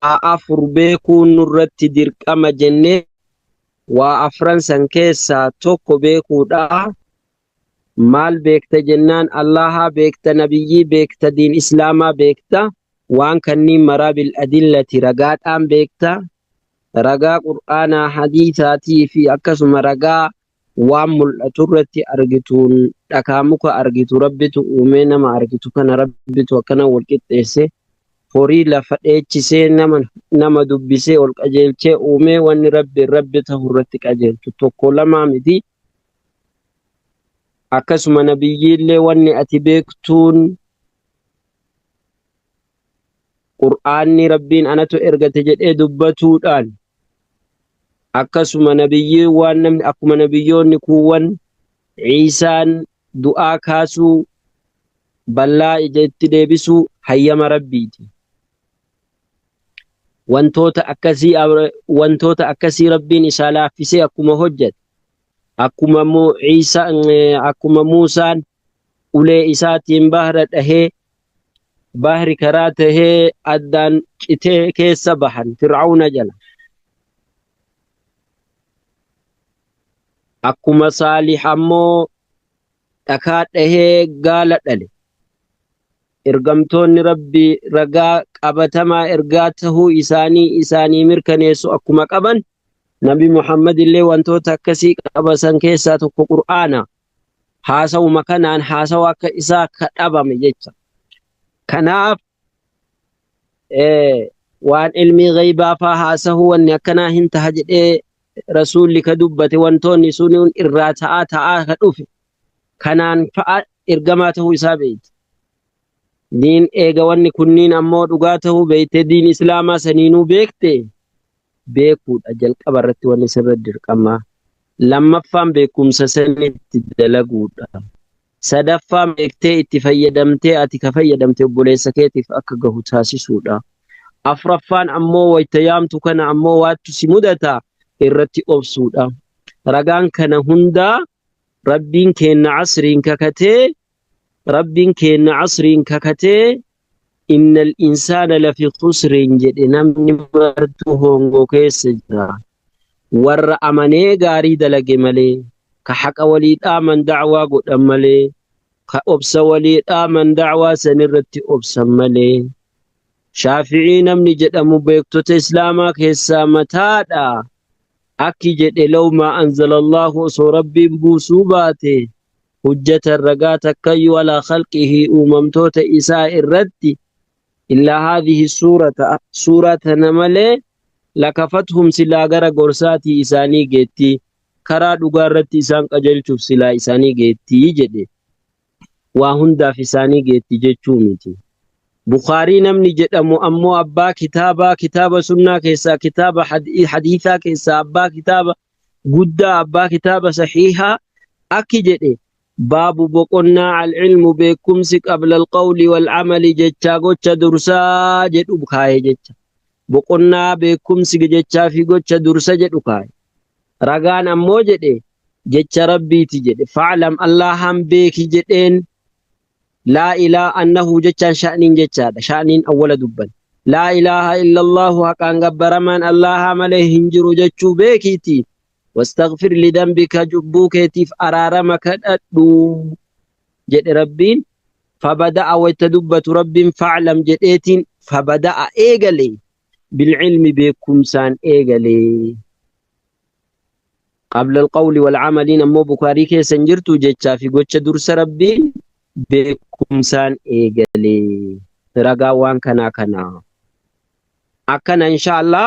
waa afur beekuun nurratti dirqama jennee waa afran san keessaa tokko beekuudha. Maal beekta jennaan Allaahaa beekta, nabiyyii beekta, diin islaamaa beekta. Waan kanniin maraa bil adillati ragaadhaan beekta. Ragaa qur'aanaa, hadiisaatii fi akkasuma ragaa waan mul'atu irratti argituun dhakaa muka argitu rabbitu uumee nama argitu kana rabbitu akkana wal qixxeesse horii lafa dheechisee nama nama dubbisee ol qajeelchee uumee wanni rabbiin rabbi ta'u irratti qajeeltu tokko lamaa miti akkasuma nabiyyiillee wanni ati beektuun Qur'aanni Rabbiin anatu ergate jedhee dubbatuudhaan akkasuma nabiyyiiwwan namni akkuma nabiyyoonni kuuwwan Ciisaan du'aa kaasuu ballaa ija itti deebisuu hayyama Rabbiiti. Wantoota akkasii wantoota akkasii Rabbiin isaa laaffisee akkuma hojjete akkuma Ciisa akkuma Muusaan ulee isaatiin bahra dhahee bahri karaa tahee addaan citee keessa bahan fir'auna jala akkuma saalih ammoo dhakaa dhahee gaala dhale ergamtoonni rabbi ragaa qabatamaa ergaa tahuu isaanii isaanii mirkaneessu akkuma qaban nabi muhammad illee wantoota akkasii qabasan keessaa tokko qur'aana haasawuma kanaan haasawa akka isaa ka dhabame jecha. Kanaaf eh, waan ilmii ghaybaa faa haasahu wanni akkanaa hin taha jedhee rasuulli ka dubbate wantoonni sun irraa ta'aa ta'aa ka dhufe kanaan fa'a ergamaa ta'uu isaa beekte. Diin eega wanni kunniin ammoo dhugaa ta'uu beekte diin islaamaa saniinuu beekte beekuudha jalqaba irratti wanni sirra dirqamaa. Lammaffaan beekumsa sanitti dalaguudha. Sadaffaan beektee itti fayyadamtee ati ka fayyadamte obboleessa keetiif akka gahu taasisuudha. Afraffaan ammoo wayta yaamtu kana ammoo waattu si mudata irratti obsuudha. Ragaan kana hundaa Rabbiin keenna asriin kakatee Rabbiin keenna asriin kakatee innal insaana lafi khusrin jedhe namni martuu hoongoo keessa jira warra amanee gaarii dalage malee ka haqa walii dhaaman da'waa godhan malee ka obsa walii dhaaman da'waa san irratti obsan malee shaafi'ii namni jedhamu beektota islaamaa keessaa mataadha akki jedhe law maa anzala allaahu osoo rabbiin buusuu baate hujjatan ragaa takkayyuu alaa khalqihi uumamtoota isaa irratti illaa haadhihi suurata suuraa tana malee lakafathum silaa gara gorsaatii isaanii geetti karaa dhugaa irratti isaan qajeelchuuf silaa isaanii geetti jedhe waa hundaaf isaanii geetti jechuu miti bukaarii namni jedhamu ammoo abbaa kitaabaa kitaaba sunnaa keessaa kitaaba hadiisaa keessaa abbaa kitaaba guddaa abbaa kitaaba sahiihaa akki jedhe baabu boqonnaa al-ilmu beekumsi qabla al-qawli wal-amali jechaa gocha dursaa jedhu kaaye jecha boqonnaa beekumsi jechaa fi gocha dursa jedhu kaaye ragaan ammoo jedhe jecha rabbiiti jedhe fa'lam allahan beeki jedheen Laa ilaa annahu jechaan sha'niin jechaadha. Sha'niin awwala dubban. Laa ilaaha illallahu haqaan gabbaramaan Allaahaa malee hin jiru jechuu beekiitii. Wastaghfir lidambika cubbuu keetiif araarama kadhadhu. Jedhe Rabbiin. Fabada'a wayta dubbatu Rabbiin fa'lam jedheetiin fabada'a eegale. Bilcilmi beekumsaan eegale. qabla alqawli walcamaliin ammoo bukaarii keessa hin jirtu jechaa fi gocha dursa rabbiin beekumsaan eegalee ragaa waan kanaa kanaa akkana inshaallah